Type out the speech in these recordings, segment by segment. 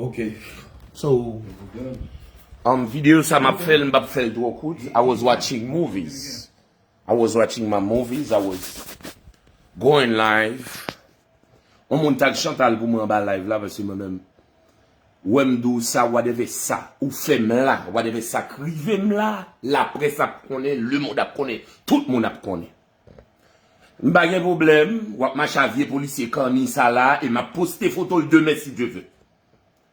Ok, so video sa m ap fè l m pap fè l twò kout I was watching movies I was watching my movies I was going live On moun tag Chantal pou mwen anba live la paske mwen menm Wè m di w sa wadèvè sa ou fè m la wadèvè sa k rive m la laprès ap konnen lemond ap konnen tout moun ap konnen m pa gen pwoblèm w ap mache a vye polisye kanni sa la e m ap poste foto l demen si Dye ve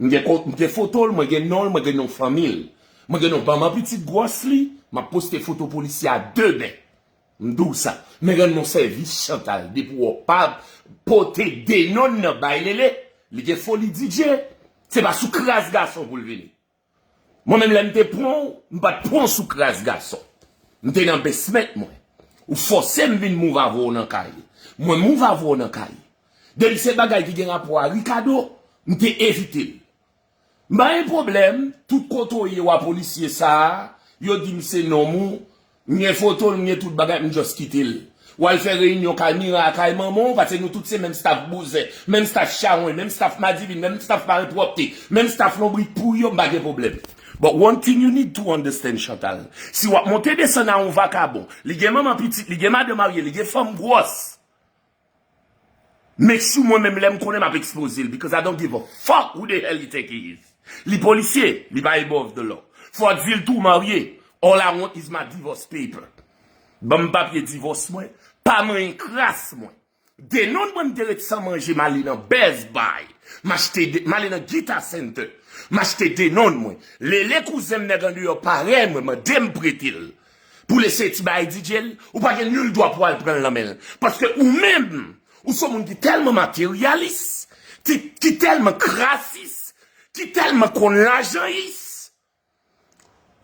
m gen kont m gen foto l mwen gen non l mwen gen non fanmi l mwen gen non banm an pitit gwòs li m ap poste foto polisye a demen. M di w sa. Men rann mwen sèvis Chantal depi w wè w pa pote Denon nan bay Lele li gen foli DJ se pa sou kras gason pou l vini. Mwen menm lè m te pran w m pa t pran w sou kras gason. M te nan besment mwen. Ou fòse m vin move avè w nan kay. Mwen move avè w nan kay. Depi se bagay ki gen rapò a Rikado m te evite l. M pa gen pwoblèm, tout kote w ye w a polisye sa a, yo di m se nonm ou, m gen foto l, m gen tout bagay, m just kite l. W al fè reyinyon kay Mira a kay manman w, pase nou tout se menm staf bouzen, menm staf chawony, menm staf madivin, menm staf malpwòpte, menm staf lonbrit pouri yo, m pa gen pwoblèm. But one thing you need to understand Chantal, si w ap monte desann a yon vakabon, li gen manman pitit, li gen madan marye, li gen fanm gwòs, Make sure mwen menm lèm konnen map expose l because I don't give a fuck who the hell you think he is Li polisye, li pa above the law Fò w di l tou w marye All I want is my divorce paper Ban m papye divòs mwen Pa manyen kras mwen Denon mwen m te ret san manje m ale nan Best Buy M achte M ale nan Guitar Center M achte denon mwen Lele kouzen m nèg andeyò parèy mwen mande m prete l Pou l eseye ti bagay DJ l, ou pa gen nul dwa pou al pran l nan men l. Paske ou menm, ou s on moun ki tèlman materyalis, ki tèlman krasis, ki tèlman konn lajanyis,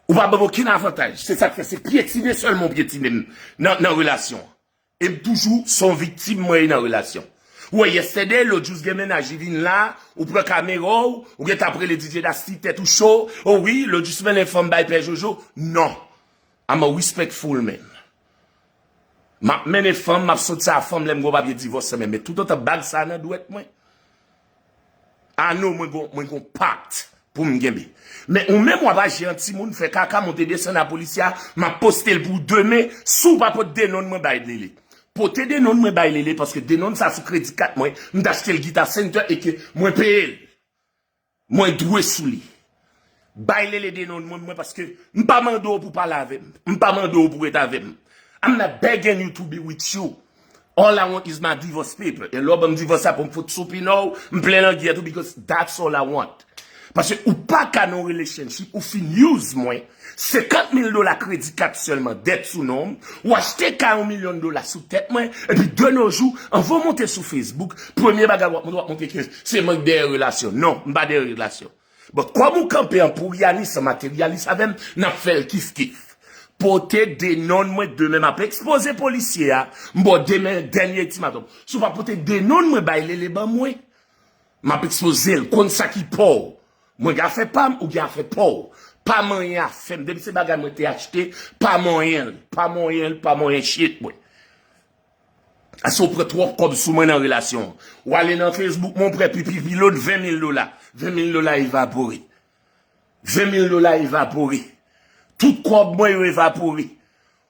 ou pa ban m okenn avantaj. Se sa k fè se pyetine sèlman ou pyetine m nan relasyon an. Em toujou son viktim mwen ye nan relasyon. Ou wè yesterday lòt jou gen mennaj li vin la ou pran kamera w ou gentan ap rele DJ Nasty tèt ou cho oh wi lòt jou smen en fanm bay pè jojo non I'm a respectful man map mennen fanm map sot sa a fanm lèm gen yon papye divòs men men toutotan bag sa a nan dwèt mwen Ah non mwen gon mwen gon part poum genbe. Men ou menm wap aji an timoun fè kaka monte desann a police a map postel pou ou demen si ou pa pot denonn mwen bay lele. Pote denonn mwen bay lele paske denonn sa sou kredi kat mwen m t achtel guitar center e ke mwen peyel. Mwen dwe sou li. Bay lele de non mwen paske m pa mande w pou pale avè m. M pa mande w pou ret avè m. I'm not begging you to be with you. All I want is my divorce paper. E lè w ban m divòs la pou m fout sou pino w, m plen langyèt ou because that's all I want. Paske ou pa ka nan yon relationship, ou fin use mwen, 50 mil dola kredi kat sèlman dèt sou non m, ou achte kay yon milyon dola sou tèt mwen, epi de no jou, anvan w monte sou Facebook, premye bagay w ap montre, w ap montre ke se mwen k dèyè relasyon. Non, m pa dèyè relasyon. Bon kòm ou kanpe an pouriyani san materyalis avè m, n ap fè l kif kif. Pote de nonn mwen demen m ap ekspoze polisye a, m ba w demen dènye etimatòm. Si w pa pote de nonn mwen bay lele ban mwen, m ap ekspoze l, konn sa ki pa w. Mwen gen afè pa m, ou gen afè pa w. Pa manyen afè m, depi se bagay mwen te achte, pa manyen l, pa manyen l, pa manyen shit mwen. Ase ou pran twòp kòb sou mwen nan relasyon an. Ou ale nan Facebook mwen ou pran pi pi pi lòt 20 mil dola. 20 mil dola evapore. 20 mil dola evapore. Tout kòb mwen yo evapore.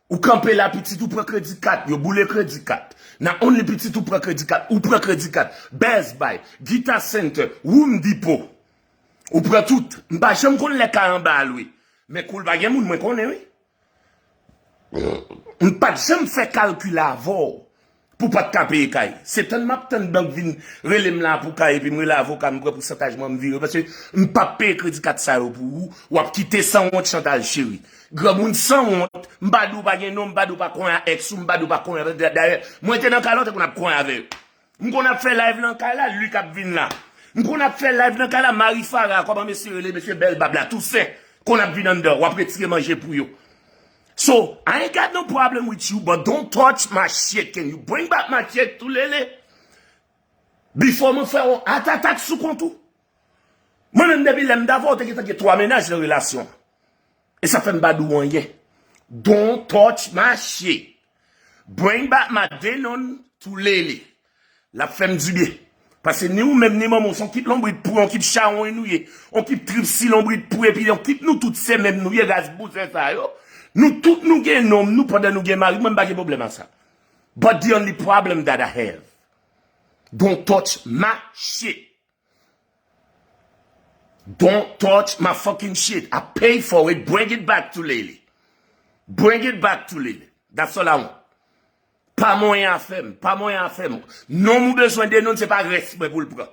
Ou kanpe la pitit ou pran kredi kat. Yo boule kredi kat. Nan only pitit ou pran kredi kat. Ou pran kredi kat. Best buy. Guitar center. Room depot. Ou pran tout. M pa janm konn lè kay anba a lwe. Men kou l pa gen moun mwen konnen wi. M pat janm fè kalkil avèw pou pat ka peye kay. Se tann map tann bank vin relem la pou kay epi m rele avoka m pran pousantaj mwen m vire paske m pap peye kredi kat sa yo pou ou wap kite sanwont chantaj cheri. Granmoun sanwont m pa di w pa gen non m pa di w pa konyen a ex ou m pa di w pa konyen dayè mwen te nan kay la ou te konn ap konyen avè yo. M konn ap fè live lan kay la Luc ap vin la M konn ap fè live lan kay la Marie Farah kòman mesye rele mesye bèl bab la Toussaint konn ap vin anndan wap retire manje pou yo So I ain't got no problem with you but don't touch my shit can you bring back my check tou lele Before mwen fè yon heart attack sou kont ou Mwen menm depi lèm t avè w te gentan gen 3 mennaj nan relasyon an e sa fèm pa di w anyen Don't touch my shit Bring back my Denon to Lele. Lap fèm du bien. Pase ni ou menm ni manman w son kip lonbrit pou yon kip chawony nou ye. Yon kip trip si lonbrit pou epi yon kip nou tout se menm nou ye ras bouzen sa yo. Nou tout nou gen nonm nou pandan nou gen mari mwen m pa gen pwoblèm a sa. But the only problem that I have. Don't touch my shit. Don't touch my fucking shit I pay for it bring it back to Lele Bring it back to Lele That's all I want Pa monyen afèm Pa monyen afèm Nonm ou bezwen denoun se pa rès mwen pou l pran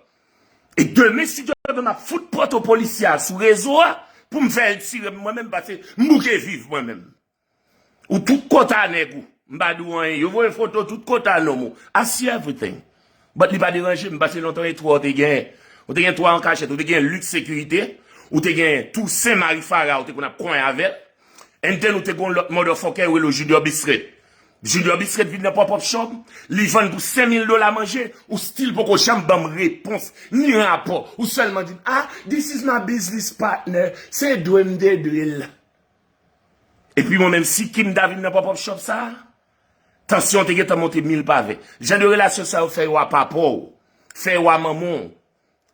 E demen si Dye vle m ap fout photo polisye a sou rezo a pou m fè l tire m mwen menm pase m bouke viv mwen menm Ou tout kota nèg ou. M pa di w anyen. Yo voye foto tout kota nonm ou. I see everything. But li pa deranje m pase lontan e twa ou te gen. Ou te gen twa an kachèt. Ou te gen Luc Securite. Ou te gen Toussaint Marie Farah ou te konn ap konyen avè l. And then ou te gen yon lòt motherfucker yo rele l Junior Bisret. Junior Bisret vin nan pop up show m. Li vann pou 5000 dola manje. Ou still poko janm ban m repons ni rapò. Ou sèlman di m ah this is my business partner. Se dwe m te dwe l. Epi mwen menm si Kim ta vin nan pop up shop sa, tansyon te gentan monte mil pa ven. Jan de relasyon sa yo fè yo a papa w, fè yo a manman w,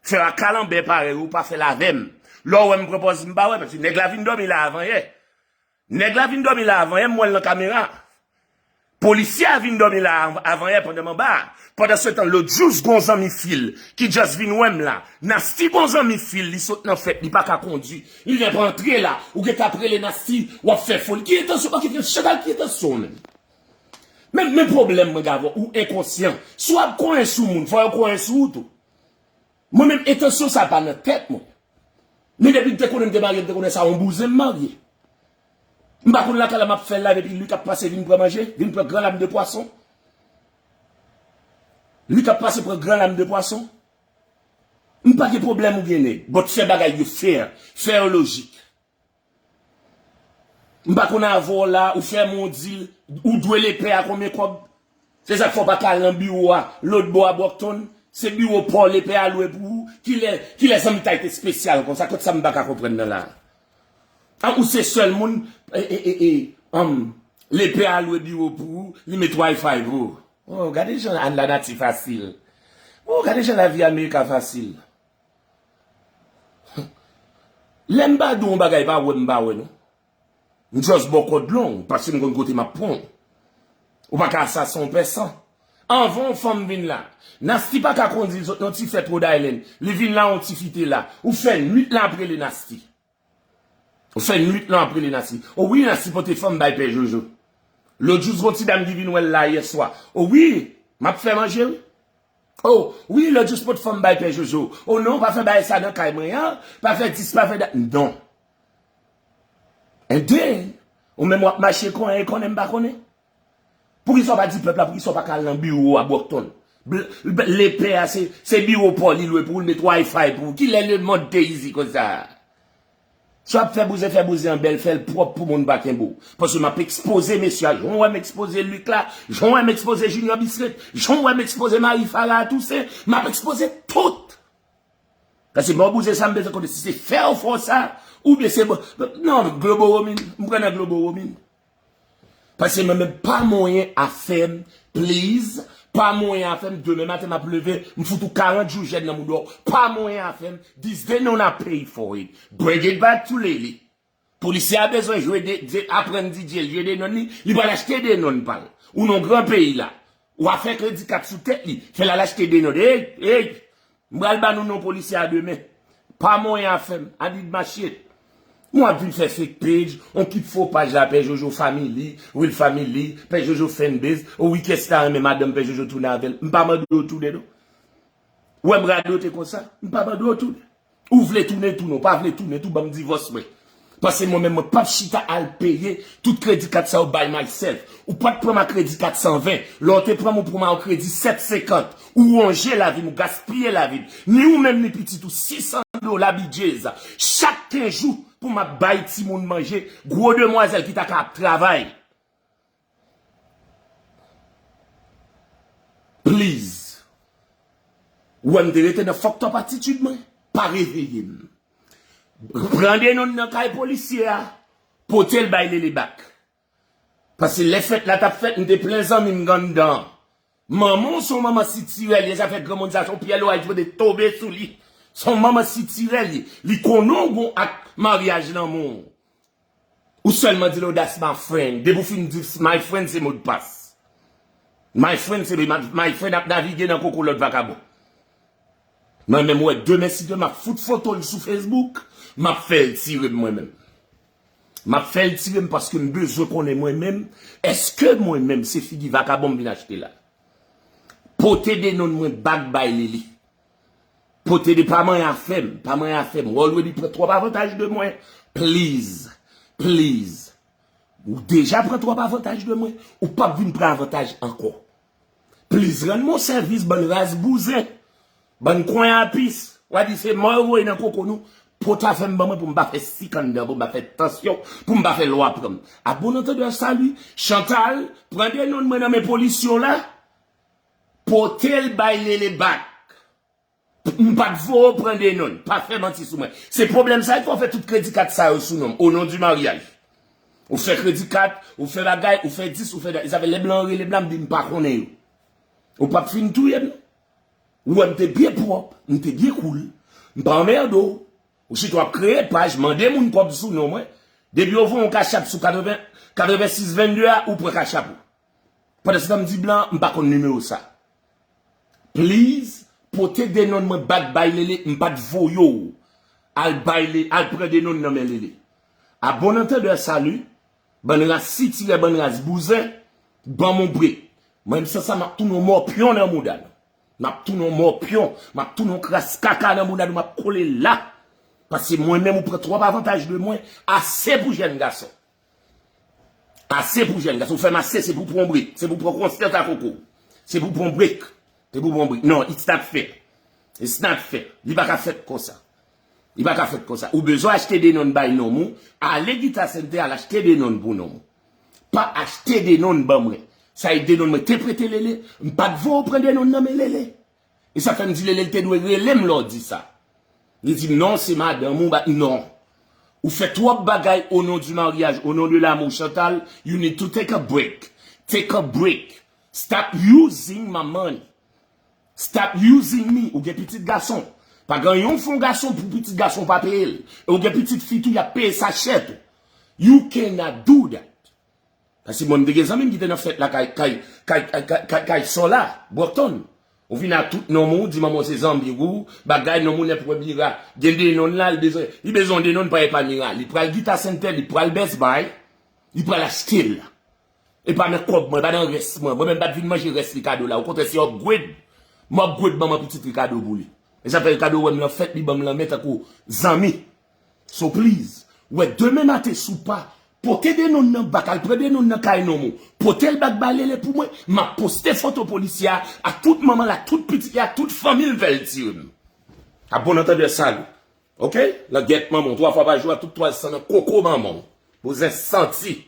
fè yo a kalanbè parèy ou, pa fè l avè m. Lè w wè m pran pòz m pa wè, paske nèg la vin dòmi la avan yè. Nèg la vin dòmi la avan yè, m wè l nan kamera. Polisye a vin dòmi la avanyè pandan m anba a. Pandansetan lòt jous gon zanmi fi l ki just vin wè m la. Nasty gon zanmi fi l li sot nan fèt li pa ka kondi. Li gen pou antre la. Ou gen tan ap rele Nasty w ap fè foli. Ki entansyon ok frèt Chantal ki entansyon w menm? Menm menm pwoblèm mwen gen avè w ou enkonsyan. Si w ap konyen sou moun fò yo konyen sou ou tou. Mwen menm entansyon sa pa nan tèt mwen. Men depi m te konnen m te marye m te konnen sa yon bouzen m marye. M pa konn lakay la map fè live epi Luc ap pase vin pran manje, vin pran gran lam de pwason. Luc ap pase pran gran lam de pwason. M pa gen pwoblèm ou gen nèg, but fè bagay yo fair, fè yo lojik. M pa konn avè w la, ou fè m yon dil, ou dwe lepè a konbyen kòb? Se sak fè w pa ka al nan biwo a lotbò a Brockton, se biwo pa w lepè a lwe pou ou, kilè kilè zanmitay te spesyal konsa, kot sa m pa ka konprann nan la a? Ou se sèl moun lepè a lwe biwo pou ou, li met wi-fi pou ou. Oh, gade jan lanati fasil. Oh, gade jan lavi America fasil. Lè m pa di w yon bagay pa wè m pa wè non. M just ba w kòd long, paske m konn kote m ap pran w. Ou pa ka asasen yon pèsan. Anvan yon fanm vin la. Nasty paka kondil sot non ti fèt rhode island li vin la yon tifi te la ou fè nwit lan ap rele nasty ou fè nwit lan ap rele nasty o wi nasty pote fanm bay pè jojo lot jou gon ti dam ki vin wèl la yèswa o wi map fè manje wi o wi lot jou pot fanm bay pè jojo o non pa fè bagay sa nan kay mwen an pa fè dis pa fè dat non and then ou menm wap mache konnen konnen m pa konnen. Poukisa w pa di pèp la poukisa w pa ka al nan biwo w a Brockton? Lepè a se biwo pa w li lwe pou l met Wi-Fi pou w. Kilè lemond te izi konsa? Si w ap fè bouzen fè bouzen an bèl, fè l pwòp pou moun pa kenbe w. Paske m ap ekspoze mesye a jan w wè m ekspoze Luc la, jan w wè m ekspoze Junior Bisreth, jan w wè m ekspoze Marie Farah Toussaint, m ap ekspoze tout. Paske m ba w bouzen sa m bezwen konnen si se fè w fè w sa oubyen se. Non, Globoromin, m pran nan Globoromin. Pase mwen menm pa moyen afem please pa moyen afem demen maten map leve m fout ou 40 jou jèn nan moudaw pa moyen afem this day know na pay for it bring it back to lele polisye a bezwen jwe de aprann DJ jwe denon li li pral achte denon pal ou non gran peyi la Wa fè kredi kat sou tèt li, fè lal achte de nòt. Eyy! Eyy! M pral ba nou non polisye a demen. Pa monyen afè m. Adi d mache. M wap vin fè fake page, on ki fo paj la Pè Jojo Family, Will Family, Pè Jojo Fanbase. O wi kiyès ki ta renmen madanm Pè Jojo tounen avè l. M pa mande w tounen non. Ou wèm radote konsa, m pa mande w tounen. Ou vle tounen tounen, ou pa vle tounen tou banm divòs mwen. Pase mwen menm mwen pap chita al peye tout kredi kat sa yo by myself. Ou pat pranm a kredi 420, lè w te pranm ou pranm a yon kredi 750. Ou wonje lavim, ou gaspiye lavim. Ni ou menm ni pitit ou 600 dola bgy chak 15 jou pou map bay timoun manje, gwo demwazèl ki ta ka ap travay. Please! Ou wè m te rete nan fucked up attitude mwen? Pa reveye m. Pran Denon nan kay polisye a, pote l bay Lele back. Pase lè fèt la t ap fèt, m te plen zanmi m anndan an. Manman w se yon manman sitirè l ye, zafè granmoun sa se yon pyèl oray ki pote tonbe sou li. Se yon manman sitirè l ye. Li konnen w gen w ak maryaj lanmou w. Ou selman di lo that's my friend. Depi ou fin di my friend se modpas. My friend se my friend ap navige nan koko lot vakabon. Mwen menm wè demen si demen map fout foto l sou Facebook, map fèl tire mwen menm. Map fèl tire m paske m bezwen konnen mwen menm eske mwen menm se figi vakabon m vin achte la. Pote denon mwen back bay li li. Pote de pa manyen afèm, pa manyen afèm. Wè w lwen li pran twòp avantaj de mwen. Please, please. Ou deja pran twòp avantaj de mwen. Ou p ap vin pran avantaj ankò. Please rann mwen yon sèvis bann ras bouzen. Bann konyapis. W'a di se mò yo voye nan koko nou. Pote afèm ban mwen pou m pa fè sik anndan, pou m pa fè tansyon, pou m pa fè lwa pran m. A bon antandè, salut. Chantal, pran de nonn mwen nan men polis yo la. Potel bay lele bak. M pat vo ou pran de non. Pa fè manti sou mwen. Se pwoblèm sa ki fè ou fè tout kredi kat sa yo sou nonm. O non di maryaj. Ou fè kredi kat, ou fè bagay, ou fè dis, ou fè dat. E sa fè lè blan an rele m la m di m pa konnen yo. Ou pap fin touye m non. Ou wè m te byen pwòp, m te byen koul. M pa anmerde ou. Ou sito ap kreye paj, mande moun kòb sou non mwen. Depi yo voye yon kachap sou 86 22 a, ou pran kachap ou. Pandanstan di blan mpa konn nimewo sa. Please pote denon mwen back bay lele mpat voye w al bay le al pran denon nan men lele. A bon antendeur salut bann ras sitirè bann ras bouzen banm on break mwen m sansa map tounen on mòpyon nan mouda nou map tounen on mòpyon map tounen on kras kaka nan mouda nou map kole la paske mwen menm ou pran trop avantaj de mwen ase pou jèn gason. Ase pou jèn gason, fèm ase se pou pran break, se pou pran konsè ta koko, se pou pran break, se pou pran break, non it's not fair, it's not fair, li pa ka fèt konsa, li pa ka fèt konsa, ou bezwen achte denon bay nonm ou, ale Guitar Center al achte denon pou nonm ou, pa achte denon ban mwen, sa e denon mwen te prete Lele, m pat voye w pran denon nan men Lele, E sa fè m di Lele l te dwe rele m lè w di sa. Li di m non se madanm ou ba non. Ou fè twòp bagay o non di maryaj, o non de lamou Chantal, you need to take a break. Take a break. Stop using my money. Stop using me. Ou gen pitit gason. Pa gen yon fon gason pou pitit gason w pa peye l. E w gen pitit fi tou y ap peye sa chè tou. You cannot do that. Pase mwen m te gen zanmi m ki te nan fèt la kay kay kay kay kay sola brockton ou vin a tout nom ou di manman w se zanbir ou bagay nom ou nèpwè bira gen de non la li bezwen li bezwen de non pa e pa mira li pral guitar center li pral best buy li pral achte l e pa nan kob mwen e pa nan rès mwen mwen menm pat vin manje rès ricardo la okontrè se upgrade m upgrade manman pitit ricardo pou li e sa fè ricardo wè m lan fèt li ban m lanmen tankou zanmi So please wè demen maten sou pa pote denon nan bak al pran denon nan kay nonm ou potel bak balele pou mwen map poste foto polisye a ak tout manman l ak tout pitit li ak tout fanmil vel tirem a bon antendè salut ok langyèt manman w 3 fwa pa jou a tout twal san nan koko manman w bouzen santi.